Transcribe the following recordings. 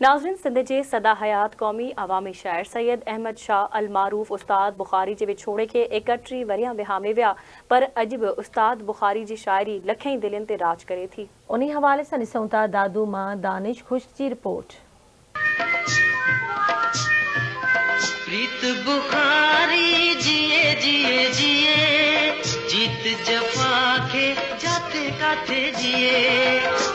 ناظرين سنڌ جي سدا حيات قومي عوامي شاعر سيد احمد شاهه المعروف استاد بخاري جي وڇوڙي کي ايڪهٽري ورهيا وهامي ويا پر اڄ به استاد بخاري جي شاعري لکين دلين تي راڄ ڪري ٿي. انهي حوالي سان ڏسون ٿا دادو مان دانش خشڪ جي رپورٽ. پريت بخاري جيئي جيئي جيئي جيت جفا کي جاتي ڪاٿي جيئي.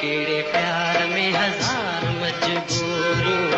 ڪهڙي پيار ۾ هزار مجبوريون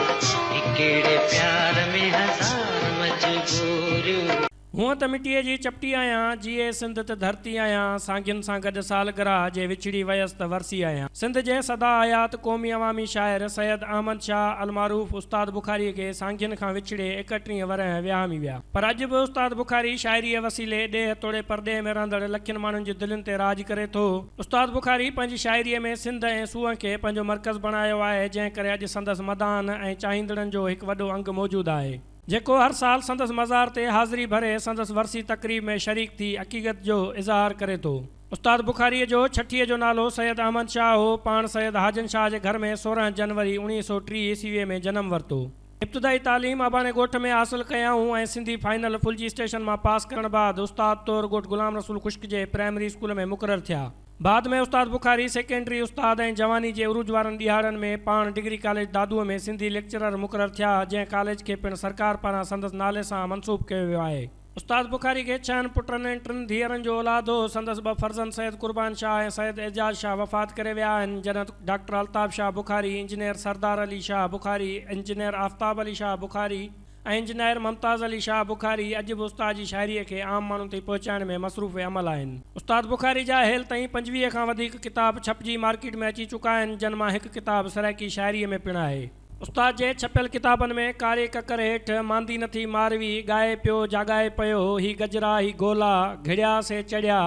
هي ڪهڙي پيار ۾ هزار مجبوريون. هونء ته مٽيء جي چپٽي آهيان، جيئي سنڌ ته ڌرتي آهيان، سانگين سان گڏ سالگرهه جي وڇڙي ويس ته ورسي آهيان. سنڌ جي سدا حيات قومي عوامي شاعر سيد احمد شاهه المعروف استاد بخاريء کي سانگين کان وڇڙي ايڪٽيهين ورهيه ويهامي ويا، پر اڄ به استاد بخاري شاعريء وسيلي ڏيهه توڙي پرڏيهه ۾ رهندڙ لکين ماڻهن جي دلين تي راڄ ڪري ٿو. استاد بخاري پنهنجي شاعريء ۾ سنڌ ۽ سونهن کي پنهنجو مرڪز بڻايو آهي، جنهن ڪري اڄ سندس مداحن ۽ چاهيندڙن جو هڪ وڏو انگ موجود آهي، جيڪو هر سال سندس مزار تي حاضري ڀري سندس ورسي تقريب ۾ شريڪ ٿي عقيقت جو اظهار ڪري ٿو. استاد بخاريء جو ڇٺيء جو نالو سيد احمد شاهه هو، پاڻ سيد حاجن شاهه جي گهر ۾ سورهن جنوري اوڻيهه سؤ ٽيهه عيسويء ۾ جنم ورتو. ابتدائي تعليم اباڻي ڳوٺ ۾ حاصل ڪيائون ۽ سنڌي فائنل ڦلجي اسٽيشن مان پاس ڪرڻ بعد استاد طور ڳوٺ غلام رسول خشڪ جي پرائمري اسڪول ۾ مقرر ٿيا. بعد ۾ استاد بخاري سيڪنڊري استاد ۽ جواني جي عروج وارن ڏهاڙن ۾ پاڻ ڊگري ڪاليج دادوء ۾ سنڌي ليڪچرر مقرر ٿيا جنهن ڪاليج کي پڻ سرڪار پاران سندس نالي سان منسوب ڪيو ويو آهي. استاد بخاري کي ڇهن پٽن ۽ ٽن ڌيئرن جو اولاد هو. سندس ٻه فرزند سيد قربان شاهه ۽ سيد اعجاز شاهه وفات ڪري ويا آهن، جڏهن doctor Altaf Shah Bukhari, engineer Sardar Ali Shah Bukhari, engineer Aftab Ali Shah Bukhari ۽ engineer Mumtaz Ali Shah Bukhari اڄ به استاد جي شاعريء کي عام ماڻهن تائين پهچائڻ ۾ مصروف عمل آهن. استاد بخاري جا هيل تائين پنجويهه کان وڌيڪ ڪتاب ڇپجي مارڪيٽ ۾ اچي چڪا آهن، جن مان هڪ ڪتاب سرائيڪي شاعريء ۾ پڻ آهي. استاد جي ڇپيل ڪتابن ۾ ڪاري ڪڪر هيٺ، ماندي نٿي ماروي، ڳائي پيو جاڳائي پيو، هي گجرا هي گولا، گهڙيا سي چڙهيا،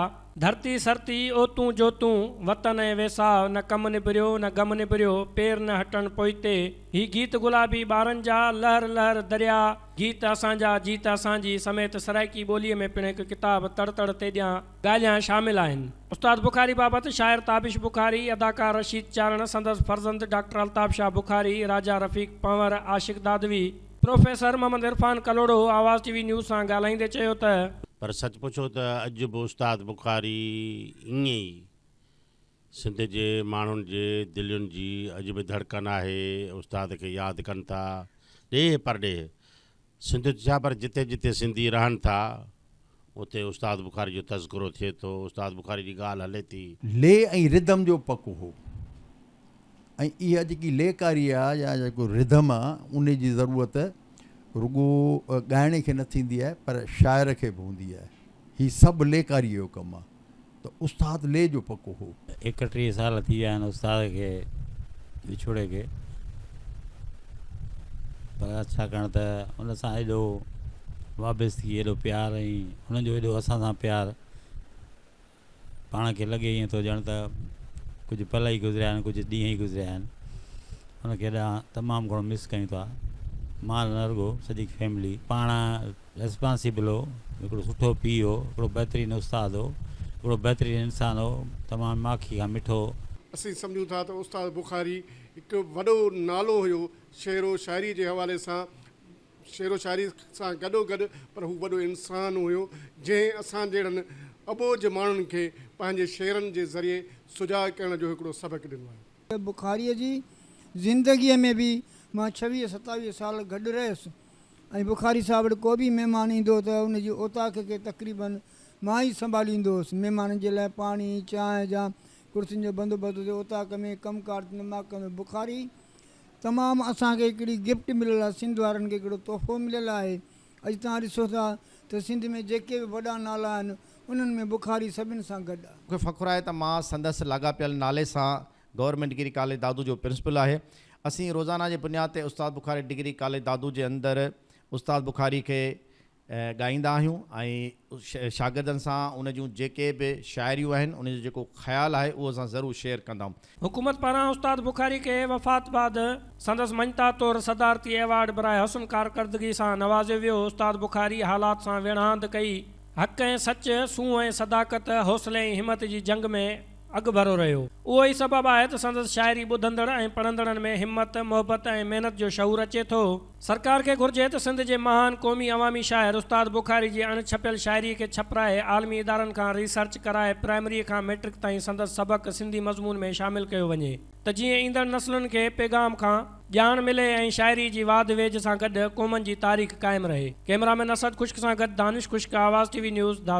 ڌرتي سرتي، اوتون جوتون، وطن ۽ ويساهه، نه ڪم نبريو نه غم نبريو، پير نه هٽڻ پوئتي، هي گيت گلابي ٻارن جا، لهر لهر دريا، گيت اسان جا، جيت اسان جي سميت سرائڪي ٻوليء ۾ پڻ هڪ ڪتاب تڙ تڙ تيڏيان ڳالهيان شامل آهن. استاد بخاري بابت شاعر تابش بخاري، اداڪار رشيد چارڻ، سندس فرزند doctor Altaf Shah Bukhari, Raja Rafiq Panhwar, Ashiq Dadwi, professor Muhammad Irfan Kalhoro Awaz T V news سان ڳالهائيندي چيو ته. پر سچ پڇو ته اڄ به استاد بخاري ائين ئي سنڌ جي ماڻهن جي دلين جي اڄ به ڌڙڪن آهي، استاد کي ياد ڪن ٿا ڏيهه پرڏيهه سنڌ ڇا پر جتي جتي سنڌي رهن ٿا اتي استاد بخاري جو تذڪرو ٿئي ٿو، استاد بخاري جي ڳالهه هلي ٿي. لي ۽ ردم جو پڪ هو ۽ اها جيڪي لي ڪاري آ يا جيڪو ردم آ انهي جي ضرورت رڳو ڳائڻي کي نه ٿيندي آهي پر شاعر کي به هوندي آهي. هي سڀ لي ڪاري جو ڪم آ. ته استاد لي جو پڪو هو. ايڪٽيهه سال ٿي ويا آهن استاد کي وڇوڙي کي پر ڇاڪاڻ ته ان سان ايڏو وابستگي ايڏو پيار ۽ انهن جو ايڏو اسان سان پيار پاڻ کي لڳي ائين ٿو ڄڻ ته ڪجهه پل ئي گذريا آهن ڪجهه ڏينهن ئي گذريا آهن ان کي ايڏا تمام گهڻو مس ڪيون ٿا مان نه رڳو سڄي فيملي پاڻ ريسپانسيبل هو، هڪڙو سٺو پيء هو، هڪڙو بهترين استاد هو، هڪڙو بهترين انسان هو، تمام ماکي کان مٺو هو. اسين سمجهون ٿا ته استاد بخاري هڪ وڏو نالو هيو شعر و شاعري جي حوالي سان شعر و شاعري سان گڏو گڏ پر هو وڏو انسان هيو جنهن اسان جهڙن اٻوجهه ماڻهن کي پنهنجي شعرن جي ذريعي سجاڳ ڪرڻ جو هڪڙو سبق ڏنو آهي. استاد بخاري جي زندگي ۾ به مان ڇويهه ستاويهه سال گڏ رهيس ۽ بخاري صاحب وٽ ڪو به مهمان ايندو هو ته ان جي اوطاق کي تقريباً مان ئي سنڀاليندو هوس. مهمانن جي لاء پاڻي، چانهه جا ڪرسين جو بندوبست هتي اوطاق ۾ ڪم ڪار ٿيندو مان ڪندو بخاري، تمام اسان کي هڪڙي گفٽ مليل آهي، سنڌ وارن کي هڪڙو تحفو مليل آهي. اڄ توهان ڏسو ٿا ته سنڌ ۾ جيڪي به وڏا نالا آهن، انهن ۾ بخاري سڀن سان گڏ آهي. مون کي فخر آهي ته مان سندس لاڳاپيل نالي سان گورنمينٽ ڊگري ڪاليج دادو جو پرنسپل آهي. اسين روزانه جي بنياد تي استاد بخاري ڊگري ڪاليج دادو جي اندر استاد بخاري کي ڳائيندا آهيون ۽ شاگردن سان ان جون جيڪي به شاعريون آهن ان جو جيڪو خيال آهي اهو اسان ضرور شيئر ڪندائون. حڪومت پاران استاد بخاري کي وفات بعد سندس مڃتا طور صدارتي ايوارڊ براء حسن ڪارڪردگي سان نوازيو ويو. استاد بخاري حالات سان ويڙهاند ڪئي. حق ۽ سچ، سونهن ۽ صداقت، حوصلي ۽ همت جي جنگ ۾. اڳڀرو رهيو. اهو ئي سبب آهي ته سندس شاعري ٻڌندڙ ۽ پڙهندڙن ۾ همت، محبت ۽ محنت جو شعور اچي ٿو. سرڪار کي گهرجي ته سنڌ جي مهان قومي عوامي شاعر استاد بخاري جي اڻ ڇپيل شاعري کي ڇپرائي عالمي ادارن کان ري سرچ ڪرائي پرائمري کان مئٽرڪ تائين سندس سبق سنڌي مضمون ۾ شامل ڪيو وڃي ته جيئن ايندڙ نسلن کي پيغام کان ڄاڻ ملي ۽ شاعري جي واڌ ويجهه سان گڏ قومن جي تاريخ قائم رهي. ڪئميرامين اسد خشڪ سان گڏ Danish Khushk Awaz T V news Dadu.